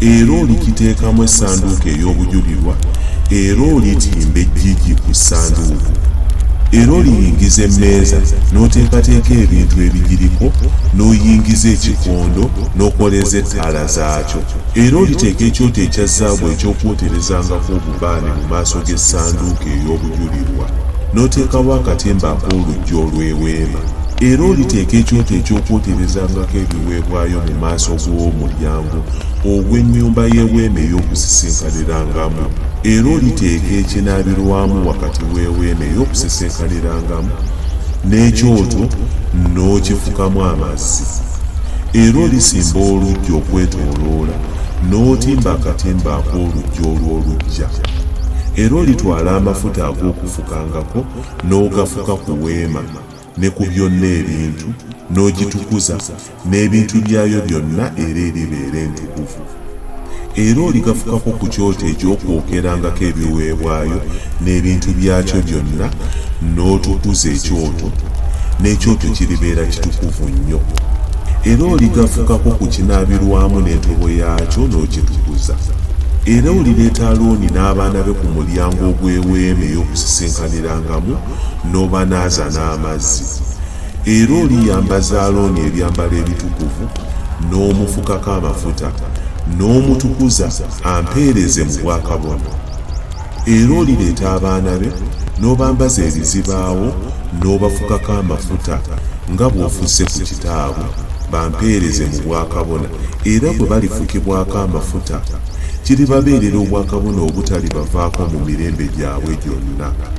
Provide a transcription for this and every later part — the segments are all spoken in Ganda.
era olikiteekamu essanduuko ey'obujulirwa era olitimba ejjiji ku ssanduuko era oliyingiza emmeeza n'oteekateeka ebintu ebigiriko n'oyingiza ekikondo n'okoleeza ettaala zaakyo era oliteeka ekyoto ekya zaabu eky'okwoterezangako obubaane mu maaso g'essanduuko ey'obujulirwa n'oteekawo akatimba ak'oluggi olw'eweema era oliteeka ekyoto eky'okwoterezangako ebiwe ebiweebwayo mu maaso g'omulyango ogw'ennyumba y'eweema ey'okusisinkanirangamu, era oliteeka ekinaabirwamu wakati w'eweema ey'okusisinkanirangamu n'ekyoto n'okifukamu amazzi. Era olisimba oluggya okwetooloola, n'otimba akatimba ak'oluggya olw'oluggya. Era olitwala amafuta ag'okufukangako n'ogafuka ku weema. ne ku byonna ebintu, n'ogitukuza, n'ebintu byayo byonna era eribeera entukuvu. Era oligafukako ku kyoto eky'okwokerangako ebiweebwayo n'ebintu byakyo byonna, n'otukuza ekyoto, n'ekyoto kiribeera kitukuvu nnyo. Era oligafukako ku kinaabirwamu n'entobo yaakyo n'okitukuza. Era olireeta Alooni n'abaana be ku mulyango ogw'Eweema ey'Okusisinkanirangamu, n'obanaaza n'amazzi, era oliyambaza Alooni ebyambalo ebitukuvu, n'omufukako amafuta, n'omutukuza ampeereze mu bwakabona. Era olireeta abaana be n'obambaza ebizibaawo n'obafukako amafuta nga bw'ofusse ku kitaabwe, bampeereze mu bwakabona, era bwe balifukibwako amafuta, kiribabeerera obwakabona obutalibavaako mu mirembe gyabwe gyonna.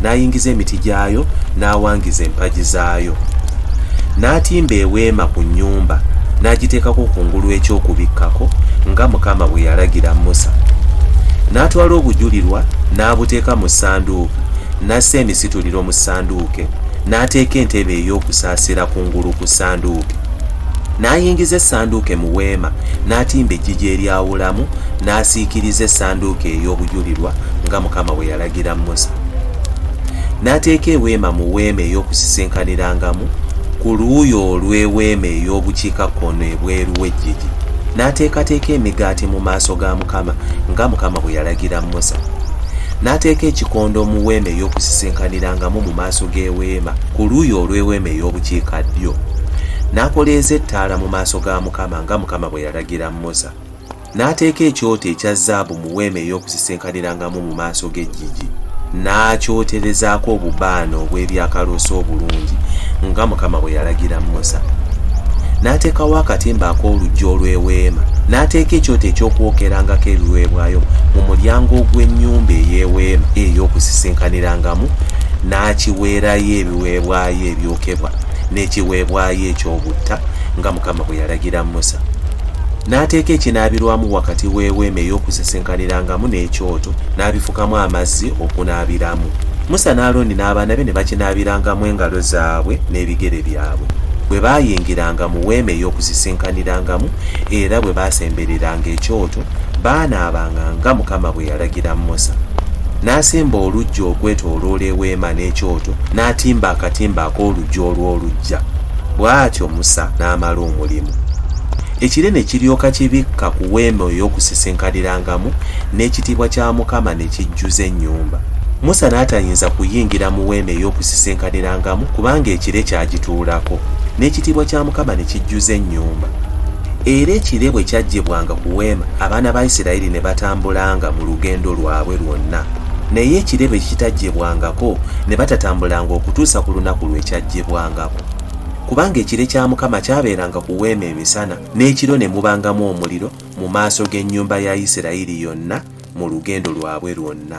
n'ayingiza emiti gyayo n'awangiza empagi zaayo n'atimba eweema ku nnyumba n'agiteekako ku ngulu eky'okubikkako nga mukama bwe yalagira musa n'atwala obujulirwa n'abuteeka mu ssanduuku n'assa emisituliro mu ssanduuke n'ateeka entebe ey'okusaasira ku ngulu ku ssanduuke n'ayingiza essanduuke mu weema n'atimba ejjiji eryawulamu n'asiikiriza essanduuke ey'obujulirwa nga mukama bwe yalagira okulagira musa n'ateeka eweema mu weema ey'okusisinkanirangamu ku luuyi olw'eweema ey'obukiikakkono ebweru w'eggigi n'ateekateeka emigaati mu maaso ga mukama nga mukama bwe yalagira musa n'ateeka ekikondo mu weema ey'okusisinkanirangamu mu maaso g'eweema ku luuyi olw'eweema ey'obukiika ddyo n'akoleeza ettaala mu maaso ga mukama nga mukama bwe yalagira musa N'ateeka ekyoto ekya zaabu mu weema ey'okusisinkanirangamu mu maaso g'eggigi, n'akyoterezaako obubaane obw'ebyakaloosa obulungi, nga Mukama bwe yalagira Musa. N'ateekawo akatimba ak'oluggi olw'eweema, n'ateeka ekyoto eky'okwokerangako ebiweebwayo mu mulyango ogw'ennyumba ey'eweema ey'okusisinkanirangamu, n'akiweerayo ebiweebwayo ebyokebwa n'ekiweebwayo eky'obutta, nga Mukama bwe yalagira Musa. N'ateeka ekinaabirwamu wakati w'eweema ey'okusisinkanirangamu n'ekyoto, n'abifukamu amazzi okunaabiramu. Musa ne Alooni n'abaana be ne bakinaabirangamu engalo zaabwe n'ebigere byabwe, bwe baayingiranga mu weema ey'okusisinkanirangamu, era bwe baasembereranga ekyoto, baanaabanga nga Mukama bwe yalagira Musa. N'asimba oluggya okwetooloola eweema n'ekyoto, n'atimba akatimba ak'oluggya olw'oluggya. Bw'atyo Musa n'amala omulimu. ekire ne kiryoka kibikka ku weema ey'okusisinkanirangamu n'ekitiibwa kya mukama ne kijjuza ennyumba musa n'atayinza kuyingira mu weema ey'okusisinkanirangamu kubanga ekire kyagituulako n'ekitiibwa kya mukama ne kijjuza ennyumba era ekire bwe kyaggyibwanga ku weema abaana ba isirayiri ne batambulanga mu lugendo lwabwe lwonna naye ekire bwe kitaggyibwangako ne batatambulanga okutuusa ku lunaku lwe kyaggyibwangako kubanga ekire kya mukama kyabeeranga ku weema emisana n'ekiro ne mubangamu omuliro mu maaso g'ennyumba ya isirayiri yonna mu lugendo lwabwe lwonna